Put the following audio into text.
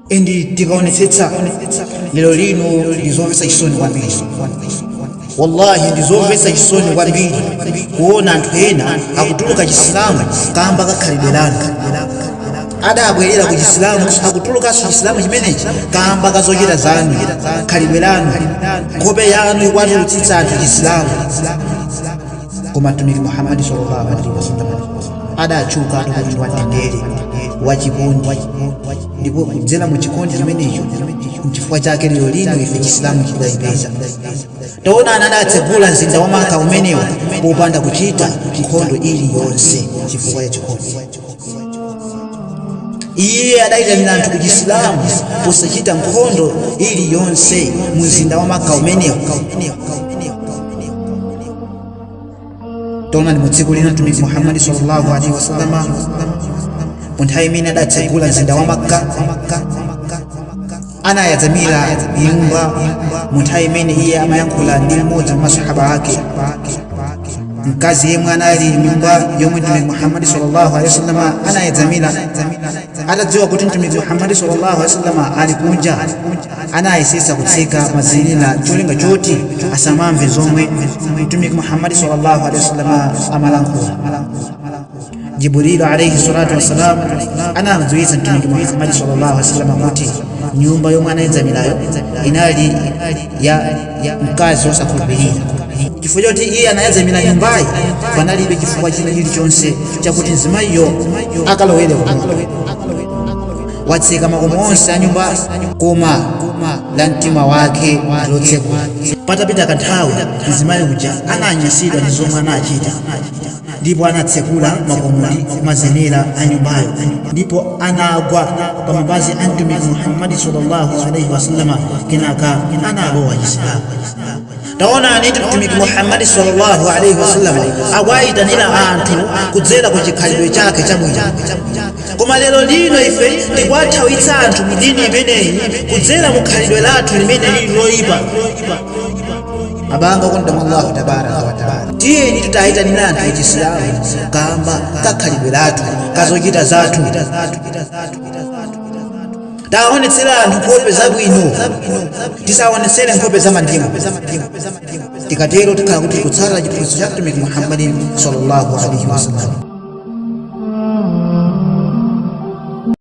endi tikaonetsetsa lero lino ndizomvetsa chisoni kwambiri wallahi ndizomvetsa chisoni kwambiri kuona anthu ena akutuluka chisilamu kamba kakhalidwe lanu adabwerera ku chisilamu akutulukanso chisilamu chimenechi kamba kazochita zanu khalidwe lanu nkhope yanu ikuwatulutsitsa anthu chisilamu koma mtumiki muhammadi sallallahu alaihi wasallam adatchuka pokhala munthu wa mtendere wachikondi ndipo kudzera mu chikondi chimenecho nchifukwa chake lero lino ife chisilamu chidatipeza taonani adatsegula mzinda wa maka umenewo popanda kuchita nkhondo iliyonse chifukwa cha chikondi iye adayitanira anthu ku chisilamu posachita nkhondo iliyonse mu mzinda wa maka umenewo taonani mu tsiku lina mtumiki muhammadi sallallahu alaihi wasallama mu nthawi imene adatsegula mzinda wa makka anayedzamira nyumba mu nthawi imene iye amayankhula ndi mmodzi wa masahaba ake mkazi yemwe anali nyumba yomwe mtumiki muhammadi sallallahu alaihi wasallam anayedzamira atadziwa kuti mtumiki muhammadi sallallahu alaihi wasallam ali kunja anayesetsa kutseka mazenera cholinga choti asamamve zomwe mtumiki muhammadi sallallahu alaihi wasallam amalankhula Jibrilu alayhi salatu wassalam anamdziwitsa Mtumiki Muhammadi sallallahu alaihi wasallam kuti nyumba yomwe anayedzamirayo inali ya mkazi wosakhulupirira. Chifukwa choti iye anayedzamira nyumbayi, panalibe chifukwa china chilichonse chakuti mzimayiyo akalowere kumoto. Watseka makomo onse a nyumba koma la mtima wake ndilotsekula. Patapita kanthawi, mzimayi uja ananyansidwa ndi zomwe anachita. ndipo anatsekula makomo ndi mazenera a nyumbayo ndipo anagwa pa mapazi a mtumiki muhammadi sallallahu alaihi wasallama kenaka analowa chisilamu taonani mtumiki muhammadi sallallahu alaihi wasallama akuwayitanira anthu kudzera ku chikhalidwe chake chabwino koma lero lino ife tikuwathawitsa anthu mu dini imeneyi kudzera mu khalidwe lathu limene lili loyipa abanga okondeka mwa allahu tabaraka wataala tiyeni tidayitanire anthu achisilamu kamba kakhalidwe lathu kazochita zathu tiwaonetsere anthu nkhope zabwino tisaonetsere nkhope zamandimu tikatero tikhala kuti tikutsatira chiphunzitso cha mtumiki muhammadin sallallahu alaihi wasallam